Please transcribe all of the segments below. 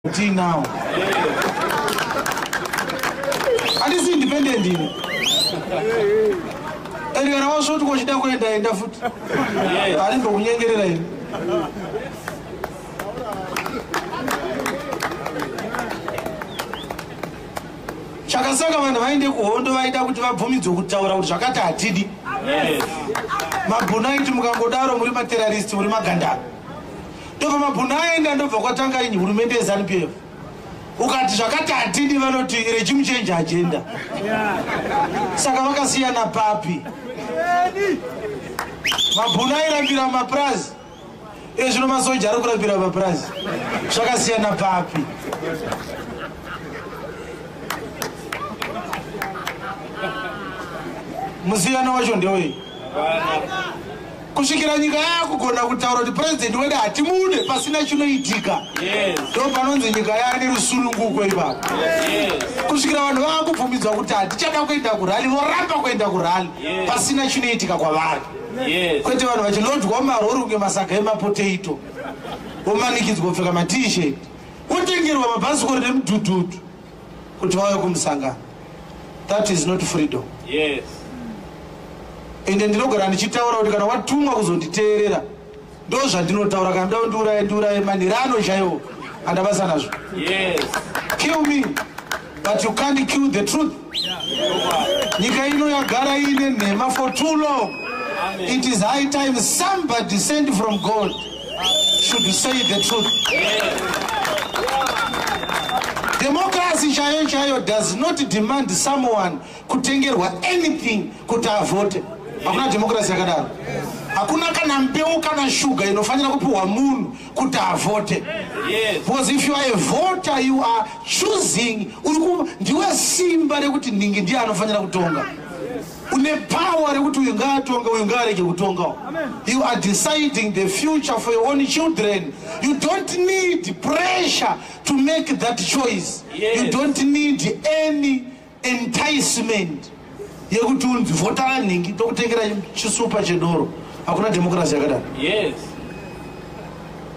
Kuti now. Andisi independent ini. Ende kana wasvoti kochida kuenda enda futi. Ari ndokunyengerera ini. Chakasaka vanhu vaende kuhondo vaida kuti vabvumidzwe kutaura kuti zvakati hatidi. Mabhunaiti mukangodaro muri materrorist muri magandaro. ndobva mabhunu aenda ndobva kwatanga ini hurumende yeZanu PF ukati zvakati hatidi vanoti regime change agenda saka vakasiyana papi mabhunu airambira mapurazi iye zvino masoja ari kurambira mapurazi zvakasiyana papi musiyano wacho ndewei kusvikira nyika yakugona kutaura kuti purezidenti wedu hatimude pasina chinoitika ndo panonzi nyika yaane rusununguko ipapo kusvikira vanhu vava kubvumidzwa kuti hatichada kuenda kurali voramba kuenda kurali pasina chinoitika kwavari kwete vanhu vachilodwa marori kunge masaga emapotato vomanikidzwa kupfeka matishet votengerwa mabhasikoro nemudhudhudhu kuti vauye kumusangano that is not freedom yes. ende ndinogara ndichitaura kuti kana watumwa kuzonditeerera ndo zvandinotaura kana nda ndiuraye ndiuraye manhirano chaiwo andabasa nazvo yes. kill me but you can't kill the truth nyika ino yagara iine nhema for too long Amen. it is high time somebody send from god should you say the truth democracy chaiyo chaiyo does not demand someone kutengerwa anything kuti avote hakuna democracy yakadaro hakuna kana mbeu kana shuga inofanira kupiwa munhu kuti avote because if you are a voter you are choosing ndiwe simba rekuti nhingi ndiye anofanira kutonga une power rekuti uyu ngaatonge uyu ngaarege kutongawo you are deciding the future for your own children you don't need pressure to make that choice yes. you don't need any enticement yekuti unzi vhotara nhingi tokutengera chisupa chedoro hakuna democracy yakadaro yes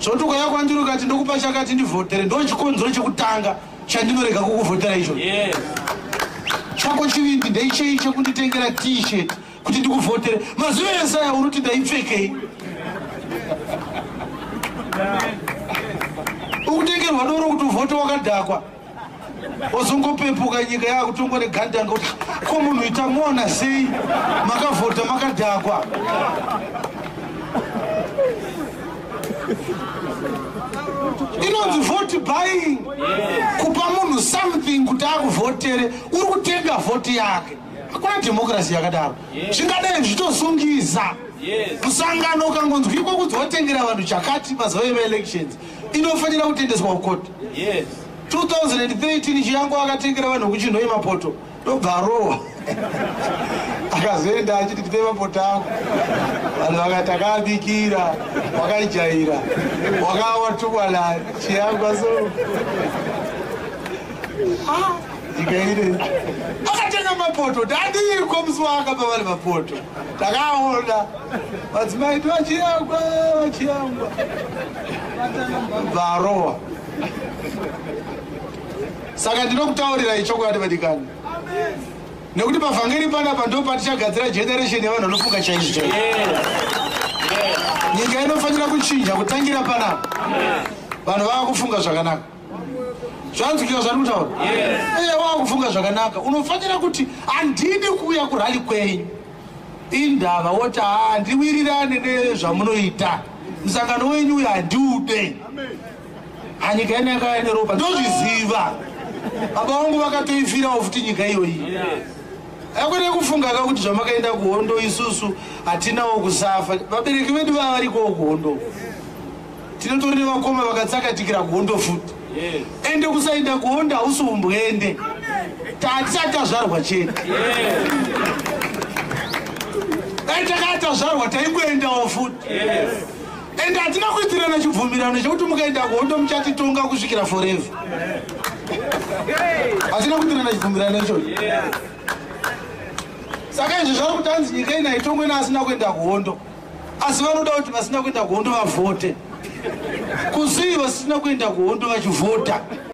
zvoti ukayakwandirukati ndokupa chakati ndivhotere ndochikonzero chekutanga chandinorega kukuvhotera icho chako chivindi ndeichei chekunditengera t-shirt kuti ndikuvhotere mazuva ese aya unoti ndaipfekei ukutengerwa doro kuti uvhote wakadhakwa ozongopepuka nyika yakutongwa negandanga kuti ko munhu ita mona sei makavhota makadhakwa inonzi vote buying kupa munhu something kuti akuvhotere uri kutenga vhoti yake hakuna dhemokirasi yakadaro zvingadai zvichizosungiza musangano ukangonzwa iko kunzi watengera vanhu chakati mazuva emaelections inofanira kutendeswa kukoti 2013 chiyango akatengera vanhu kuchinhoye mapoto ndobva arohwa akazoenda achiti tipe mapota ako vanhu vakati akaabikira wakaijaira wakawa tukwana chiyangwa so ikaire akatenga mapoto tadiiko musi waakapa vari mapoto takaona madzimai ti vachiyangwa vachiyangwa bvarohwa saka ndinokutaurirai chokwadi vadikani nekuti pavhangeri panapa ndo patichagadzira generation yevanhu vanofunga chaizvo chaizvo nyika inofanira kuchinja kutangira panapa vanhu vava kufunga zvakanaka zvanzwikira zvati kutaura eye wava kufunga zvakanaka unofanira kuti handidi kuuya kurali kwenyu indava woti handiwirirane nezvamunoita musangano wenyu uyo handiude anyika yene yakauya neropa ndozviziva baba vangu vakatoifirawo futi nyika iyoyi akwene kufunga ka kuti zvamakaenda kuhondo isusu hatinawo kusafa vabereki vedu vava varikowo kuhondo tinotori nevakoma vakatsakatikira kuhondo futi ende kusaenda kuhondo hausi umbwende tatisati tazvarwa chete dai takatazvarwa taingoendawo futi ende hatina kuitirana chibvumirano chekuti mukaenda kuhondo muchatitonga kusvikira forever hatina kuitirana chibvumirano ichocho saka izvi zvari kuti hanzi nyika ina itongwe naasina kuenda kuhondo asi vanoda kuti vasina kuenda kuhondo vavhote kuzii vasina kuenda kuhondo vachivhota